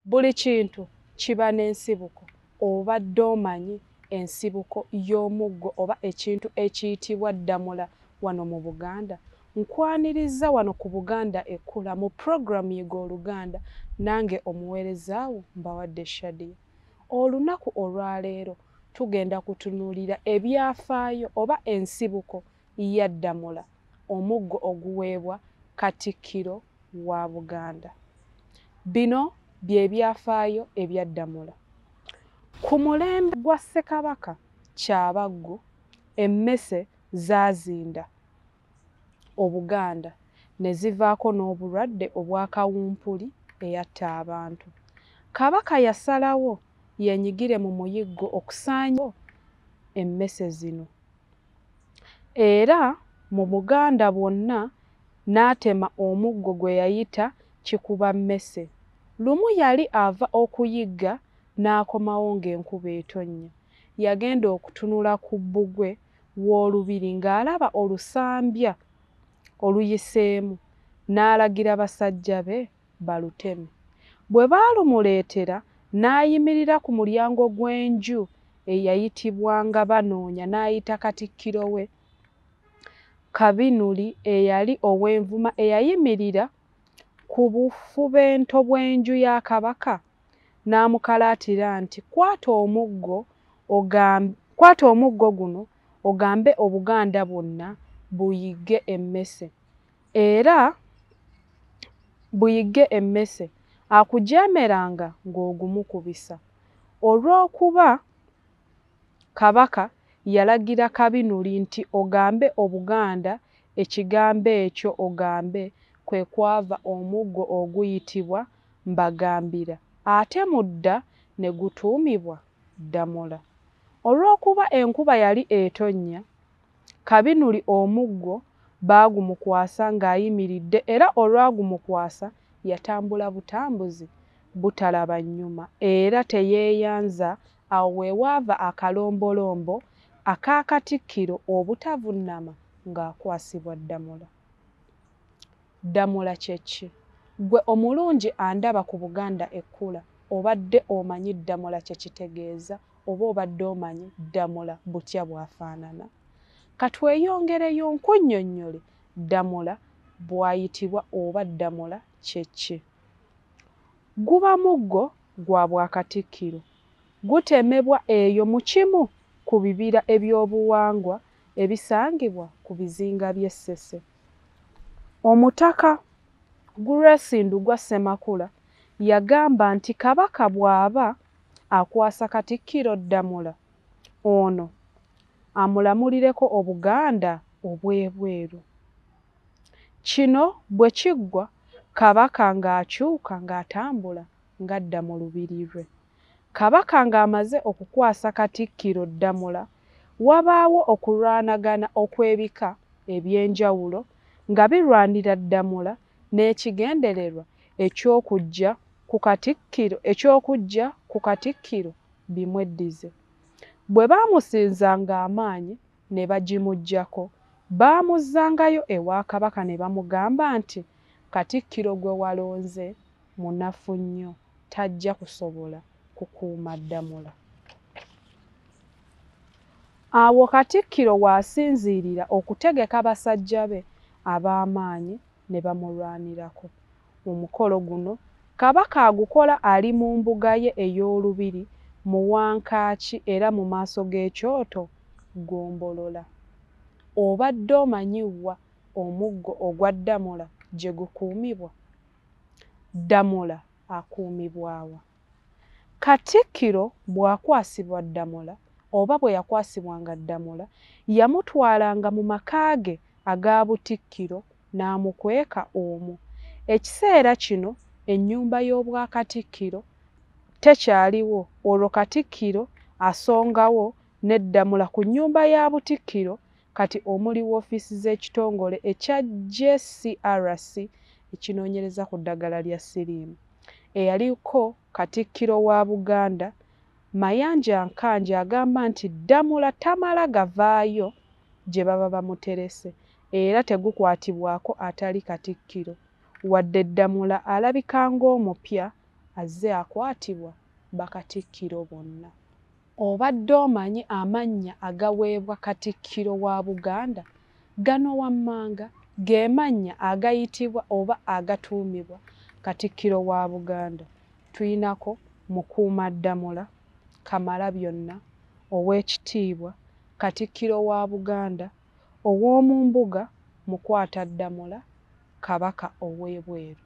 Buli kintu kiba n'ensibuko. Obadde omanyi ensibuko y'omuggo oba ekintu ekiyitibwa Ddamula wano mu Buganda? Nkwanirizza wano ku Buganda Ekkula mu program Yiga Oluganda nange omuweereza wo Mbawadde Shadia. Olunaku olwaleero tugenda kutunuulira ebyafaayo oba ensibuko ya Ddamula, omuggo oguweebwa Katikkiro wa Buganda. Bino bye byafaayo ebya Ddamula. Ku mulembe gwa Ssekabaka Kyabaggu emmese zaazinda Obuganda ne zivaako n'obulwadde obwa kawumpuli eyatta abantu. Kabaka yasalawo yeenyigire mu muyiggo okusaanyawo emmese zino. era mu Buganda bwonna n'atema omuggo gwe yayita Kikubammese. Lumu yali ava okuyigga n'akomawo ng'enkuba etonnya. Yagenda okutunula ku bbugwe w'olubiri ng'alaba olusambya oluyiseemu n'alagira basajja be baluteme. Bwe baalumuleetera, n'ayimirira ku mulyango gw'enju eyayitibwanga Banoonya n'ayita Katikkiro we, Kabinuli eyali ow'Envuma eyayimirira ku bufubento bw'enju ya Kabaka n'amukalaatira nti kwata omuggo ogambe kwata omuggo guno ogambe Obuganda bwonna buyigge emmese. Era buyigge emmese akujeemeranga ng'ogumukubisa, olw'okuba Kabaka yalagira Kabinuli nti ogambe Obuganda ekigambo ekyo ogambe kwe kwava omuggo oguyitibwa Mbagambira ate mu dda ne gutuumibwa Ddamula. Olw'okuba enkuba yali etonnya, Kabinuli omuggo baagumukwasa ng'ayimiridde era olwagumukwasa yatambula butambuzi butalaba nnyuma era teyeeyanza awo we waava akalombolombo aka Katikkiro obutavunnama ng'akwasibwa Ddamula. Ddamula kye ki? Ggwe omulungi andaba ku Buganda Ekkula, obadde omanyi Ddamula kye kitegeeza oba obadde omanyi Ddamula butya bw'afaanana? Ka tweyongereyo nkunnyonnyole Ddamula bw'ayitibwa oba Ddamula kye ki. Guba muggo gwa Bwakatikkiro. Gutemebwa eyo mu kimu ku bibira eby'obuwangwa ebisangibwa ku bizinga by'e Ssese. Omutaka Grace Ndugwa Ssemakula yagamba nti Kabaka bw'aba akwasa Katikkiro Ddamula ono amulamulireko Obuganda obw'ebweru. Kino bwe kiggwa Kabaka ng'akyuka ng'atambula ng'adda mu Lubiri lwe. Kabaka ng'amaze okukwasa Katikkiro Ddamula, wabaawo okulwanagana okw'ebika eby'enjawulo nga birwanira Ddamula n'ekigendererwa eky'okuggya ku Katikkiro eky'okuggya ku Katikkiro bimweddize. Bwe baamusinzanga amaanyi ne bagimuggyako, baamuzzangayo ewa Kabaka ne bamugamba nti, Katikkiro gwe walonze munafu nnyo tajja kusobola kukuuma Ddamula. Awo Katikkiro w'asinziirira okutegeka basajja be ab'amaanyi ne bamulwanirako. Omukolo guno Kabaka agukola ali mu mbuga ye ey'Olubiri mu Wankaaki era mu maaso g'ekyoto Ggombolola. Obadde omanyi wa omuggo ogwa Ddamula gye gukuumibwa? Ddamula akuumibwa wa? Katikkiro bw'akwasibwa Ddamula oba bwe yakwasibwanga Ddamula, yamutwalanga mu maka ge aga Butikkiro n'amukweka omwo. Ekiseera kino ennyumba y'Obwakatikkiro tekyaliwo olwo Katikkiro asongawo ne Ddamula ku nnyumba ya Butikkiro Kati omuli woofiisi z'ekitongole ekya JCRC ekinoonyereza ku ddagala lya siriimu. Eyaliko Katikkiro wa Buganda, Mayanja Nkangi agamba nti Ddamula tamala gavaayo gye baba bamuterese era tegukwatibwako atali Katikkiro wadde Ddamula alabika ng'omupya azze akwatibwa Bakatikkiro bonna. Obadde omanyi amannya agaweebwa Katikkiro wa Buganda? Gano wammanga ge mannya agayitibwa oba agatuumibwa Katikkiro wa Buganda. Tulinako, Mukuumaddamula, Kamalabyonna, Oweekitiibwa, Katikkiro wa Buganda, Owoomumbuga Mukwataddamula, Kabaka ow'ebweru.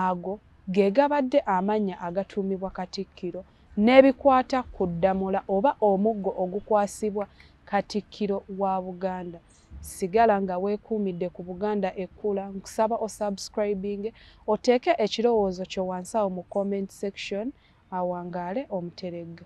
Ago ge gabadde amannya agatuumibwa Katikkiro n'ebikwata ku Ddamula oba omuggo ogukwasibwa Katikkiro wa Buganda. Sigala nga weekuumidde ku Buganda Ekkula. Nkusaba o subscribinge, oteeke ekirowoozo kyo wansi awo mu comment section. Awangaale Omuteregga.